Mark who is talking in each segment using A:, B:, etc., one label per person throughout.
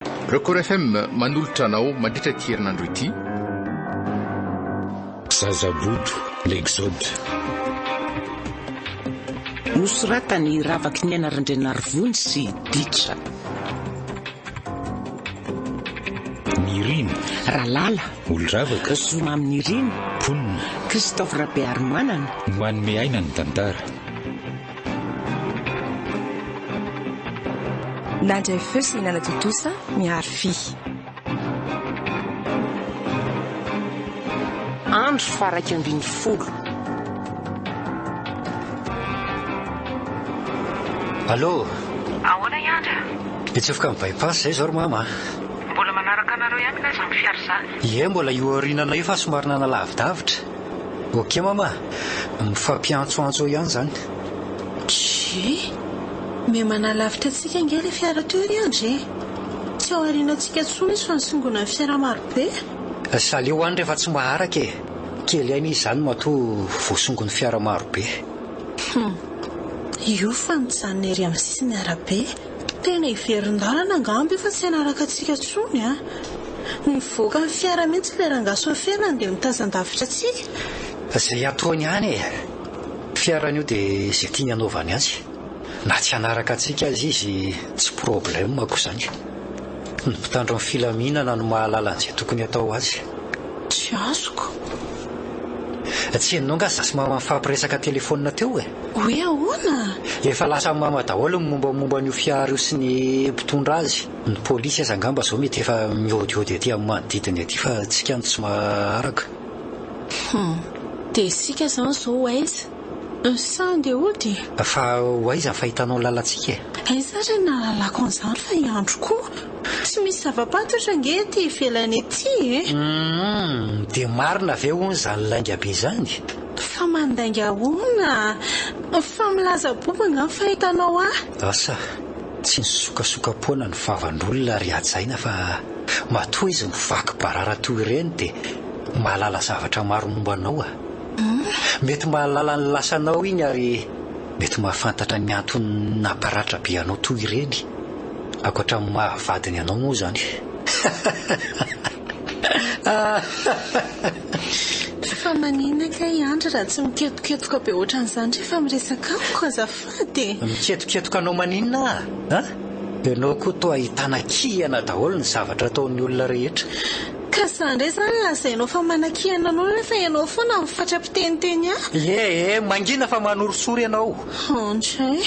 A: Record FM manolotra anao mandritra ity herinandro ity.
B: Zaza Bodo, L'exode.
C: Nosoratan'i Ravakiniaina Randrianarivony sy Ditra.
B: Nirina. Ralala.
C: Olondravaka.
B: Zomamy Nirina.
C: Mponina.
B: Christophe
C: Rabearimanana. Manome aina
B: ny tantara.
D: Nandray feo sy nanatontosa miharo fy. Andro
C: faharaika ambin'ny folo.
E: Allô? Ahoana
F: i Andry a? Hitsofoka ny
E: by-pass izay izao ry mama a! Mbola manaraka
F: anareo ihany angaha izany fiara izany? Ie, mbola io aoriana
E: anay io fa somary nanalavi-davitra. Ok mama, mifampiantsoantso eo ihany izany. Tchii!
G: Miha manalavitra antsika ange ilay fiara teo ry Andry e! Tsy ao aorianantsika intsony izy fa misongona ny fiara maro be a! Saleo
E: any rehefa tsy maharaka e! Kely aina izy izany matoa voasongon'ny fiara maro be. Humm!
G: Io fa mijanona ery amin'ny sisin'ny arabe. Tena hiverin-dalana angamba io fa tsy hanaraka antsika intsony an! Mivoaka ny fiara mihitsy ilay rangahy sofera an dia mitazan-davitra antsika. Izay ataony
E: ihany e! Fiarany io dia izay tiany hanaovany azy. Na tsy hanaraka antsika aza izy tsy problème ko izany. Ny mpitandro ny filaminana no mahalala an'izay tokony hatao azy. Tsy
G: azoko.
E: Tsy henonao nga zasy mama nifampiresaka telephone teo e? Hoe ahoana?
G: Efa lasa mama
E: daholo ny mombamomba an'io fiara io sy ny mpitondra azy. Ny polisy aza angamba izao mety efa miodiody aty amin'ny manodidina aty fa tsika no tsy maharaka. Hum.
G: Dia isika izany izao ho aiza? Sa andeha hody? Fa ho aiza
E: ny fahitanao ny lalantsika e? Aiza ary ny nahalalako
G: an'izany fa i Andry koa. Tsy misy zava-pantotra ange ety ivelany ety e! Hum.
E: Dia marina ve hono izany lainga be izany? Fa mandainga
G: ahoana? Fa milaza boba angaha ny fahitanao ahy? Asa,
E: tsy nisokasoka-poana ny vavan'olona ry hajaina fa matoa izy mivaky barara toy ireny dia mahalala zavatra maro momba anao a! Mety mahalala ny lasanao iny ary mety mahafantatra ny antony namparatra be anao toy ireny, ankoatra ny maha vadiny anao moa izany.
G: Fa manina kay Andry raha tsy miketoketoka be ohatran'izany rehefa miresaka amiko azafady e! Miketoketoka anao
E: maninona aho an? Ianao koa toa ahitana kihana daholo ny zavatra ataon'ny olona rehetra. Ka sa indray
G: izany no lazainao fa manakihana anao rehefa ianao foana no fatra-piteniteny ahy? Ye e!
E: Mangina fa manorisory ianao. Andry e!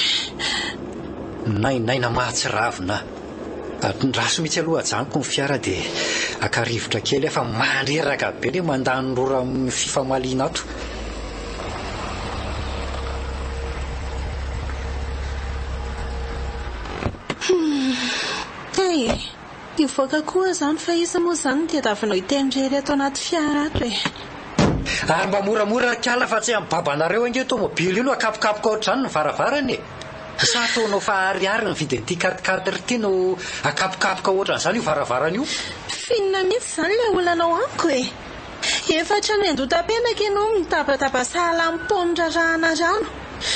E: Nainaina mahatsiravina aho. Atondraso mihitsy aloha ajanoko ny fiara dia haka rivotra kely aho fa mandreraka be ilay mandany rora amin'ny fifamaliana ato. Hmm.
G: Hey, hivoaka koa izany fa iza moa izany ny teravinao hitendrery ato anaty fiara ato e. Ary
E: mba moramora ry kala fa tsy amin'ny babanareo ange tomobily io no akapokapoka ohatr'izany ny varavarana e. Sa ataonao fa ariary ny vidin'ity quatre quatre ity no akapokapoka ohatran'izany io varavarana io? Finina mihitsy
G: izany ilay olanao amiko e! Efa hatrany an-dota-penaka ianao mitabataba sahala amin'ny paoma rarahana rano.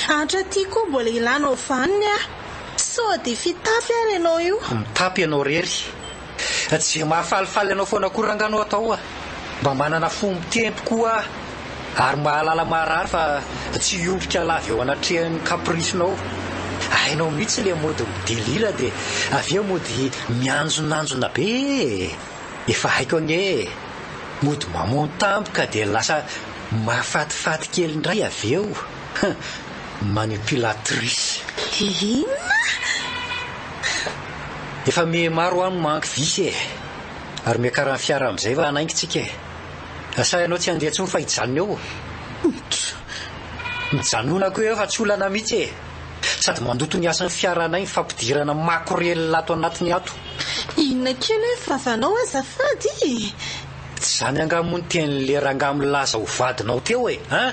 G: Hatraty koa mbola hilanao vaniny aho. Sao dia fitafy ary ianao io? Mitapy ianao irery.
E: Jia mahafalifaly anao foana koa ranga no atao oa, mba manana fo mitempo koa ary mahalala maharary fa tsy hiondrika lava eo anatrehan'ny caprice-nao, hainao mihitsy le mody midelila de avy eo mody mianjonanjona be ee, efa haiko anie ee, mody mamono tampoka de lasa mahafatifaty kely indray avy eo. Hum manipulatrice. Hi inona? Efa mihe maro ho'a ny mangy vy e! Ary miakarany fiara amin'izay va hanaingy tsika e! Asa ianao tsy handeha intsony fa hijanona eo? Humph! Mijanonako eo fa tsy olana mihitsy e! Sady mandoto ny asan'ny fiaranay ny fampidirana makorelina ato anatiny ato. Inona kely
G: hoe vavanao azafady e! Tsy izany
E: angaha moa ny tenin'le rangahy milaza ho vadinao teo e! Hein?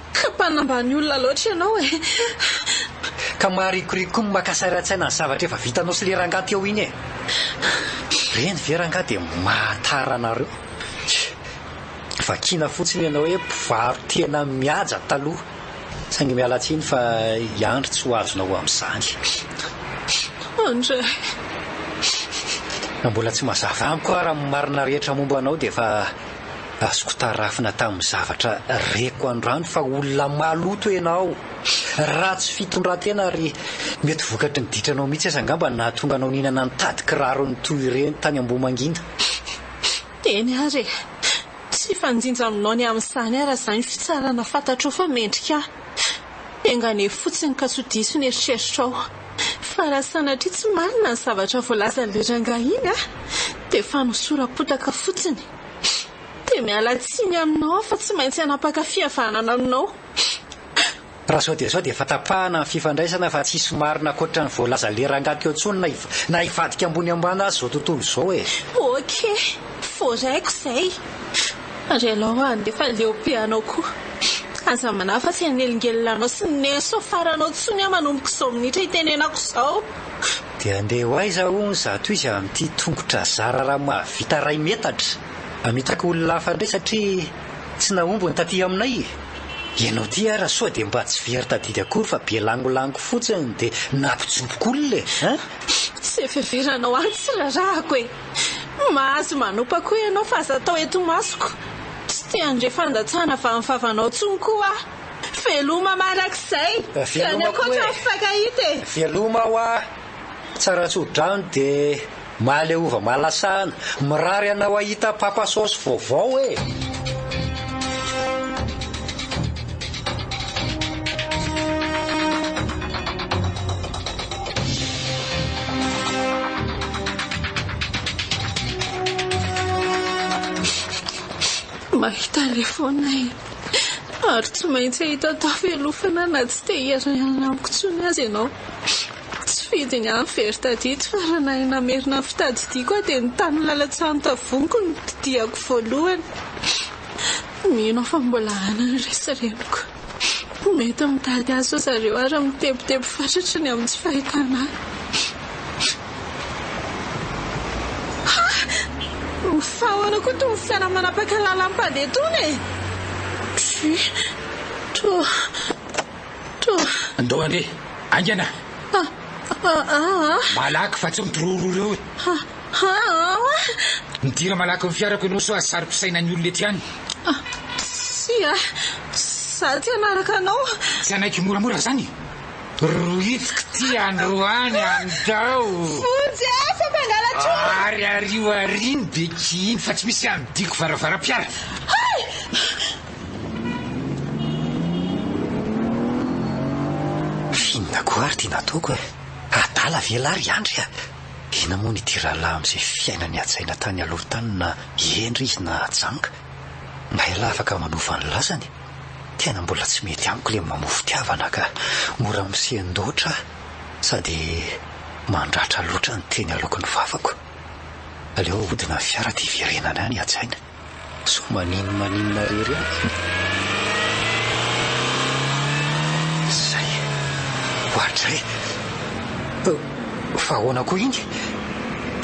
G: Ka mpanambany
E: olona loatra
G: ianao e!
E: Ka maharikoriko ny maka sary an-tsaina ny zavatra efa vitanao sy le rangahy teo iny e! Reny ve rangahy dia mahatara anareo? Tsia! Vakiana fotsiny ianao hoe mpivaro tena mihaja taloha, saingy miala tsiny fa i Andry tsy ho azonao amin'izany.
G: Andry e! Raha
E: mbola tsy mazava amiko ary ny marina rehetra momba anao dia efa Azoko tarafina tamin'ny zavatra reko androany fa olona maloto ianao, ratsy fitondran-tena ary mety vokatry ny ditranao mihitsy aza angamba no nahatonga anao nihinana nitady kirarony toy ireny tany Ambohimangina.
G: Eny ary e! Tsy hifanjinja aminao ny amin'izany ary aza ny fitsarana fantatrao fa mendrika ahy. Enga anie fotsiny ka tsy ho diso ny eritreritrao. Fa raha sanatria tsy marina ny zavatra voalazan'ilay rangahy iny a! dia fanosoram-potaka fotsiny. Dia miala tsiny aminao aho fa tsy maintsy hanapaka fihavanana aminao.
E: Raha izao dia izao dia efa tapahana ny fifandraisana fa tsisy marina ankoatra ny voalazan'ilay rangahy teo intsony na na hivadika ambony ambany aza izao tontolo izao e! Ok!
G: Voaraiko izay. Ary ianao hoa handefa leo be anao koa. Aza manahy fa tsy hanelingelina anao sy ny nerfs ho faranao intsony aho manomboka izao minitra itenenako izao. Dia handeha
E: ho aiza hono izato izy amin'ity tongotra zara raha mahavita iray metatra? Hamitaka olona hafa indray satria tsy nahomby ny taty aminay e! Ianao ity ara sao dia mba tsy very tadidy akory fa be langolango fotsiny dia nampijoboko olona e! Tsy
G: heveveranao ahy ny tsy rarahako e! Mahazo manopa koa ianao fa aza atao eto imasoko. Tsy te handre fandatsahana vanivavanao intsony koa aho. Veloma mandrakizay. Tsy any ankoatra ny mifankahita e. Veloma hoa.
E: Tsara tsodrano dia mahaleova mahalasahana. Mirary anao hahita papa saosy vaovao e.
G: Mahita telefaonina e. Ary tsy maintsy ahita tafelofana na tsy te hiara-hialana amiko intsony aza ianao. Tsy fidiny aho nivery tadito fa raha nahay namerina ny fitadidiako aho dia ny tany lalan-tsahan'ny tavonkiko no didiako voalohany. Mino aho fa mbola hanana ny resa-reniko. Mety mitady azy ry zareo ary mitebiteby fatratra ny amin'ny tsy fahitana ahy. Fa ahoana koa itony fiara manapaka lalam-pady itony e? Tsi. Toa.
B: Toa. Andao andeha. Aingana! Ah! Ah! Ah! Malaky fa tsy mitororo ireo e! Midira malaky ny fiarako ianao sao sary pisaina ny olona ety ihany. Tsia,
G: za tsy hanaraka anao. Tsy hanaiky ho moramora
B: zany? Rohitiko ty androany andao. Vonjy e,
G: fa mpangalatra olona. Ary ario
B: aria ny beky iny fa tsy misy hanodiko varavaram-piara.
E: Findakoa ary ty nataoko e. Adala ve lah ry Andry a! Inona moa ny ity rahalahy amin'izay fiainany hajaina tany aloha tany na hendry izy na janga? Na ialahy afaka manova ny lazany? Tena mbola tsy mety amiko ilay mamoa fitiavana ka! Mora misendoatra aho sady mandratra loatra ny teny aloaky ny vavako. Aleo ahodina ny fiara dia hiverenana any hajaina. Sao maninona maninona rery aho? Zay! Oadray! Fa ahoana koa iny?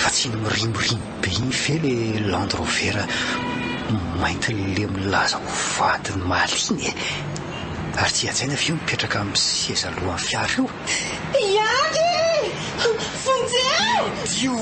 E: Fa tsy iny mirimorimo be iny ve le Land Rover mainty le milaza ho vadin'i Malina e? Ary tsy hajaina ve io mipetraka amin'ny seza alohan'ny fiara io? Miandry e!
G: Vonjeo!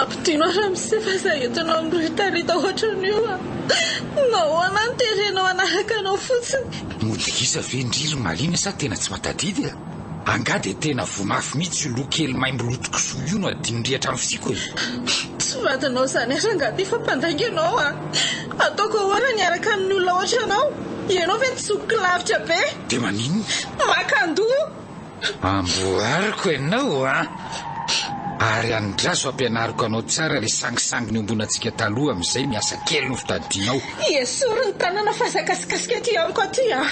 G: Ampidino aho ramose fa za entinao miretareta ohatran'io a! Nahoana no terenao hanaraka anao fotsiny? Mody gisa ve
B: ndry ry Malina sa tena tsy mahatadidy e? Angaha dia tena voa mafy mihitsy io loha kely maimbo loto kisoa io no adino ndry hatramin'ny fisiako e? Tsy vadinao
G: izany ary angaha dia efa mpandainga ianao a! Ataoko ahoana ny hiaraka amin'ny olona ohatranao? Ianao ve tsy zokiko lavitra be? Dia maninona?
B: Makandoha! Amboariko
G: ianao
B: an! Ary andraso ampianariko anao tsara ilay sangisangy niombonantsika taloha amin'izay ny asa kely nofitadianao. Esory ny
G: tanana fa aza akasikasika aty amiko aty an!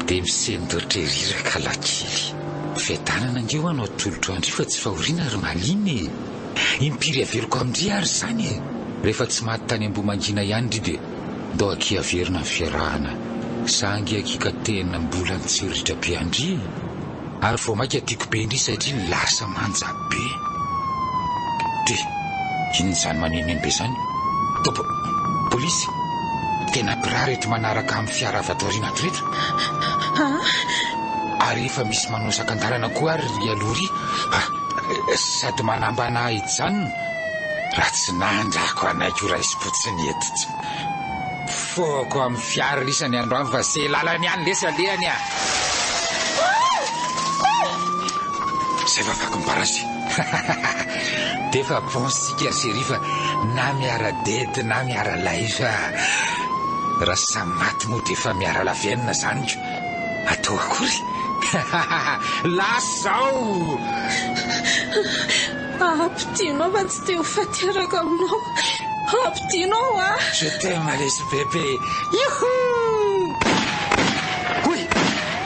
B: Dia misendotry ery Rakalakely. Fiadanana ange ho anao atolotro an-dry fa tsy fahoriana ry Malina e! Impiry aveloko amin-dry ary izany e! Rehefa tsy maty tany Ambohimangina ihany ry dia. Doc averina ny fiarahana sangy aky ka tena mbola nitsiritra be andry e! ary vao maika tiako be ndry satria lasa manja be de inona zany manenoneno be zany top polisy tena mpirary eto manaraka amin'ny fiara avy ato aoriana ato reto ary efa misy manao sakandalana koa ary ry aloha ry sady manambana hijanona Raha tsy nandrako hanaiky ho raisim-potsiny hentitra. Mpifohako amin'ny fiara risa ny androany fa ze lalana ihany lesy alehany a! Zay fa vaky ny barazy. D'efa bon isika ry chérie fa na miara-dedy na miara-lahy fa raha samy maty moa d'efa miara lavenona zany ko! Atao akory? Lasa izao!
G: Ampidino aho fa tsy te ho faty araka aminao Ampidino aho a! Je t'aime lesy
B: bebe Yhoo! Oy!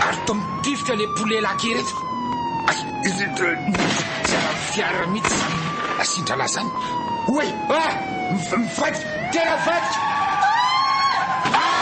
B: Ary toa mitifitra le poulet laky ireto Ay! Izy indray Tsy ara fiara mitsy zany asindralah zany Oy! Ah! Mivadika! Tena vadika!
H: Ah!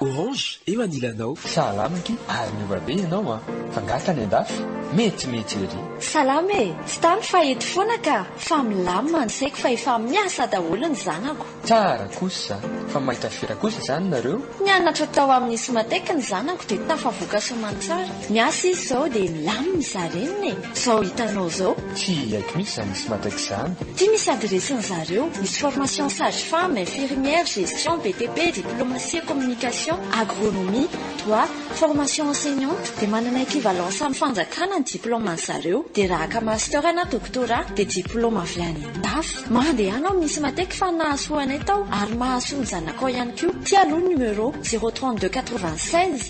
I: Orange eo anilanao. Salama aky ary miova be ianao an! Fa nga tany andafy? Metimety ery! Salama e!
J: Tsy tany fa eto foana ka! Fa milamina ny saiko fa efa miasa daholo ny zanako. Tsara kosa!
I: Fa maika firy kosa izany nareo? Nianatra tao amin'ny
J: Symatec ny zanako dia tafavoaka soamantsara. Miasa izy izao dia milamina izarenina e! Zao hitanao zao. Tsy haiko mihitsy zany
I: misy matraix zany. Ty misy adiresin
J: zareo, misy formation sage femme, infirmière, gestion, BTP, diplomatie, communication, agronomie, droit, formation enseignante, de manana equivalence am fanjakana ny diplôme an zareo, de raha haka master na doctorat de diplôme avy any andafy. Mandehana ao misy mateky fa nahasoa anay tao ary mahasoa ny zanakao ihany koa, ty aloha numero, zéro trente deux quatre vingt seize.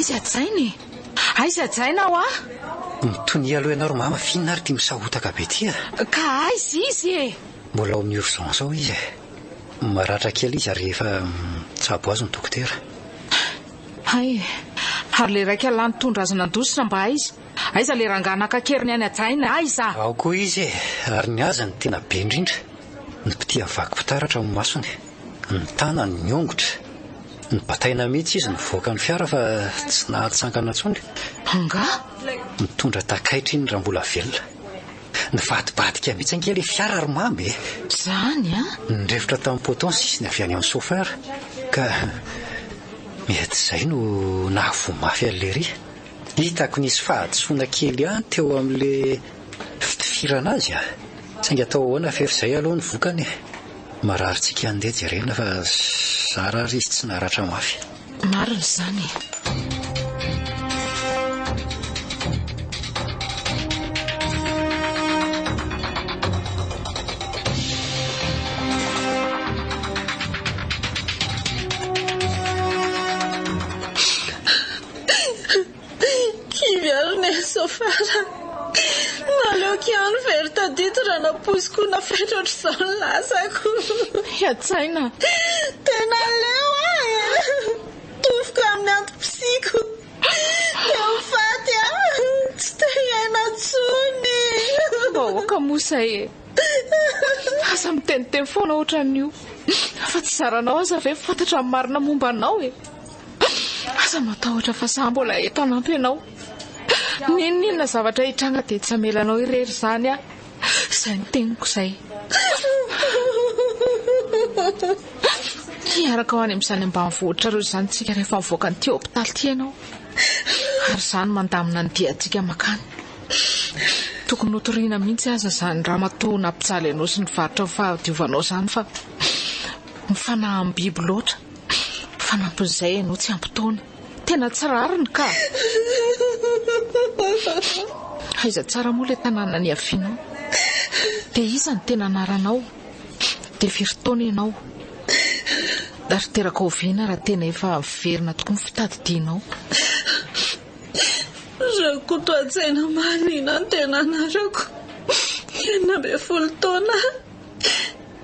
C: Aiza hajaina e? Aiza hajaina aho ah? Mitonia
E: aloha ianao ry mama f'inona ary ity misahotaka be ity ah? Ka aiza
C: izy e? Mbola ao amin'ny urgence
E: ao izy eh. Maratra kely izy ary efa mitsabo azy ny dokotera.
C: Hay e, ary ilay raika lahy nitondra azy nandositra mba aiza? Aiza le rangahy naka keriny any hajaina ahy za. Ao koa izy e!
E: Ary ny azy no tena be indrindra, ny mpitia vaky fitaratra ny masony, ny tanany, ny ongotra. Nibataina mihitsy izy nivoaka ny fiara fa tsy nahatsangana intsony. Angaha?
C: Mitondra
E: takaitra iny raha mbola velona. Nivadibadika mihitsy ange le fiara ry Mamy e! Zany an!
C: Nirefotra tamin'ny poteau
E: ny sisiny avy any amin'ny chauffeur ka mety izay no nahavoa mafy an'i Lery. Hitako nisy fahadisoana kely ihany teo amin'le fitifirana azy a! Saingy atao ahoana fery zay aloha ny vokany e! Marary tsiky ihany ndeha jerena fa zara ary izy tsy naratra mafy. Marina izany
C: e!
G: Kivy ary ny asa fara. Naleoko ihany very tadidy raha nampoiziko nafetra ohatr'izao ny lasako. Hiantsaina.
C: Dia
G: naleo aho e! Tofoka amin'ny antom-pisiako. Teo ho faty aho. Tsy te hiaina intsony.
C: Vahoaka moa izay e! Aza miteniteny foana ohatran'io. Fa tsy zaranao aza ve fantatra ny marina momba anao e! Aza matahotra fa za mbola eto hanampy anao. N'inon'inona zavatra hitranga dia tsy hamela anao irery izany aho. Izay no teniko izay. Hiaraka ho any amin'izany ambanivohitra ireo izany tsika rehefa mivoaka an'ity hopitaly ity ianao. Ary izany mandamina ny diantsika makany. Tokony hotoriana mihitsy aza izany ramatoa nampijaly anao sy nivarotra ny fahadiovanao izany fa mifanahy amin'ny biby loatra. Fanampin'izay ianao tsy ampy taona. Tena tsy rariny ka! Aiza tsara moa ilay tanàna niavianao? Dia iza ny tena anaranao? Dia firy taona ianao? Ary teraka oviana raha tena efa miverina tokoa ny fitadidianao?
G: Rakotoantsaina Marina no tena anarako. Enina ambin'ny folo taona aho.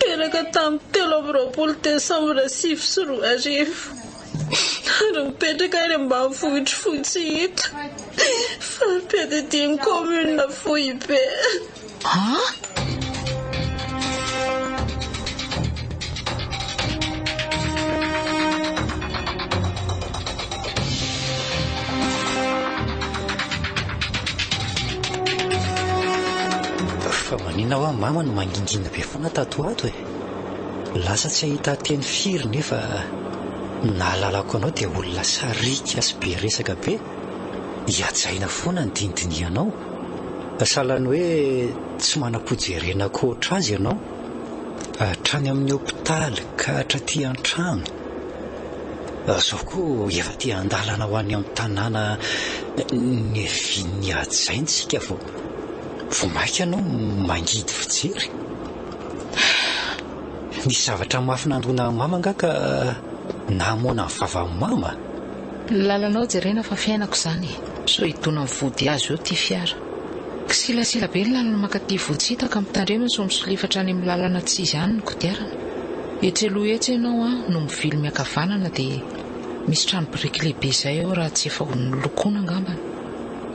G: Teraka tamin'ny telo amby roapolo desambra sivy sy roa arivo ary mipetraka any ambanivohitr'i Fotsihita, fari-piadidian'ny kaominina Foibe.
E: Maninona hoa mama no mangingina be foana tato ho ato e? Lasa tsy ahita teny firy nefa ny nahalalako anao dia olona sariaka sy be resaka be, hihajaina foana ny dinidinihanao. Sahalan'ny hoe tsy manam-pojerena ankoatra azy ianao, hatrany amin'ny hopitaly ka hatraty an-trano. Izao koa efa te-handalana ho any amin'ny tanàna niavian'ny hajaintsika vao. Vao mainka ianao mangidy fijery. Nisy zavatra mafy nandona an'i Mama angaha ka nahamoana ny vavan'i Mama? Ny lalanao
C: jerena fa fiainako izany e! Sao hidona amin'ny vody azo eo ity fiara. Kisilasila be ny lalana mankaty Vohitsita ka mitandrema sao misolifatra any amin'ny lalana tsy izy any ny kodiarana. Etsy aloha etsy ianao an no mivily miankavanana dia misy trano biriky lehibe izay eo raha tsy efa nolokoina angambany.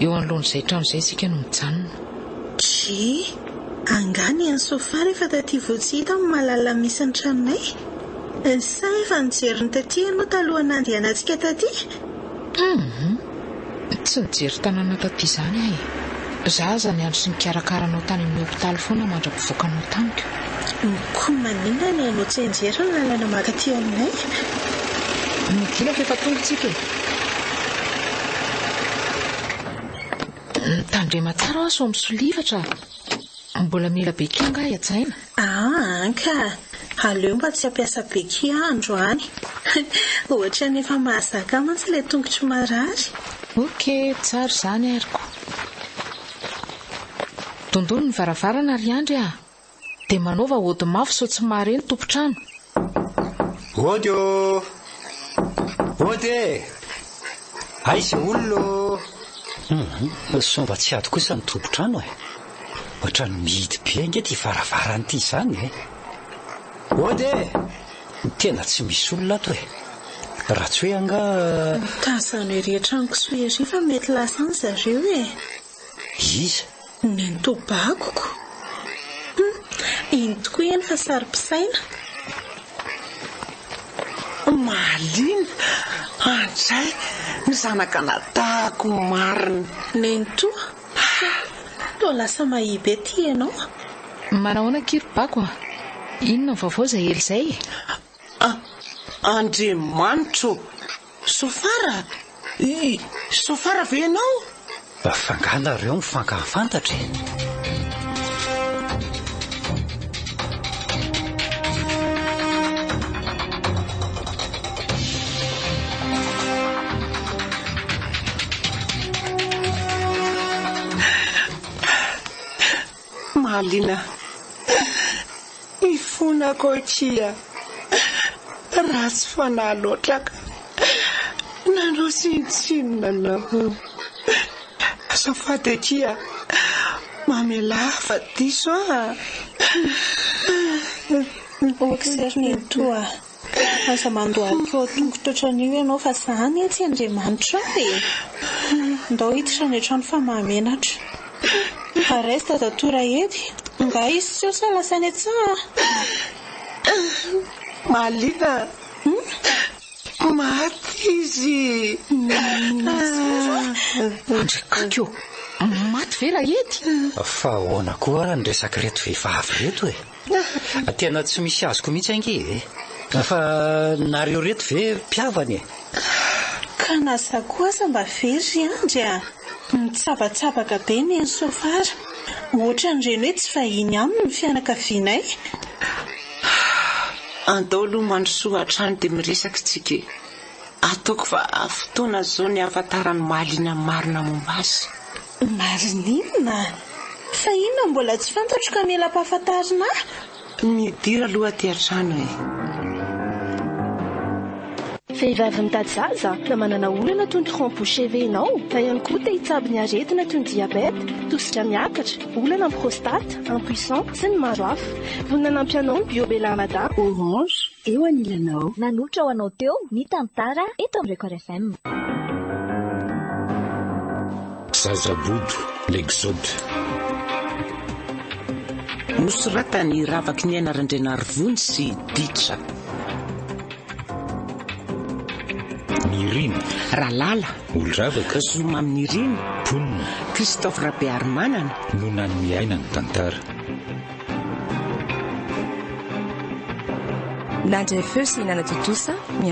C: Eo anoloan'izay trano izay isika no mijanona. Dry,
G: Angaha ny an'i Sofara efa taty vao tsy hita amin'ny malalana misy ny tranonay? Sa efa nijery ny taty ianao talohan'ny nandehanantsika taty? Humm!
C: Tsy nijery tanàna taty izany aho e! Za aza niandry sy nikarakara anao tany amin'ny hopitaly foana mandra-pivoakanao tamiko. Koa
G: maninona no ianao tsy hianjera ny lalana mankaty aminay?
C: Midina fa efa tonga isika e! Mitandrema tsara ho'a sao misolifatra. Mbola mila béquille angaha hihajaina? Aa ka!
G: Aleo mba tsy hampiasa béquille aho androany. Ohatran'ny efa mahazaka ahy mantsy ilay tongotro marary. Ok,
C: tsara izany arko. Dondolo ny varavarana ry Andry ah! Dia manaova ody mafy sao tsy mahare ny tompon-trano. Ody ô!
E: Ody e! Aiza olona ô! Hum, sao mba tsy ady kosa ny tompon-trano eh! Ohatran'ny mihidy be ange ity varavarana ity izany eh! Ody e! Tena tsy misy olona ato e! Ratsoe angaha? Tazano
G: ery an-trano kisoa ery fa mety lasa any zareo e!
E: Iza?
G: Nenitobakoko! Hum, iny tokoa eny fa saro-pisaina!
K: Mahaliana! Andray, ny zanak'anadahako marina! Nenitoa,
G: Pah! Toa lasa mahia be ity ianao a! Manao ahoana
C: akia ry bako a! Inona ny vaovao izay ela izay e? A!
K: Andriamanitra ô! Sofara? Yy! Sofara ve ianao? Fa angaha
E: nareo mifankahafantatra e?
K: Mahaliana ny fonako akia. Ratsy fanahy loatra ka. Nanao tsinontsinona anao. Azafady akia a! Mamelà fa diso a!
G: Boxer nenitoa a! Aza mandohalika ao an-tongotra ohatran'io ianao fa za anie tsy Andriamanitra ao e! Ndao hiditra any an-trano fa mahamenatra. Arais dadatoa Raedy, nga hisy seho sa lasa any an-tsaha a!
K: Mahaliana a! Koa maty izy.
C: Andrikakio, maty ve Rahety? Fa ahoana
E: koa ary ny resak'ireto vehivavy ireto e? Tena tsy misy azoko mihitsy ange e! Fa nareo ireto ve mpihavana e? Ka
G: na za koa aza mba very ry Andry a! Mitsabatsabaka be ny an'i Sofara. Ohatran'ireny hoe tsy vahiny aminy ny fianakavianay.
K: Andao aloha mandrosoa hatrany dia miresaka isika e! Ataoko fa fotoana izao ny hahafantarany mahaliana ny marina momba azy. Marinina?
G: Fa inona mbola tsy fantatro ka mila ampahafantarina ahy? Midira
K: aloha aty an-trano e!
L: Vehivavy mitady zaza na manana olana toy ny tronc-bouche ve ianao? Na ihany koa te hitsabo ny aretina toy ny diabeta, tosika miakatra, olana amin'ny prostate, impuissant, Tsy ny maro hafa. Vonona hanampy anao ny Bio Bella Mada. Orange,
M: eo anilanao. Nanolotra ho anao teo ny tantara eto amin'ny Record FM.
B: Zaza bodo, l'exode.
K: Nosoratany Ravaky Niaina Randrianarivony sy Ditra.
B: Nirina. Ralala.
K: Olondravaka.
B: Zomamy Nirina.
K: Mponina.
B: Christophe
K: Rabearimanana. No nanome
B: aina ny tantara.
D: Nandray feo sy nanatontosa ny.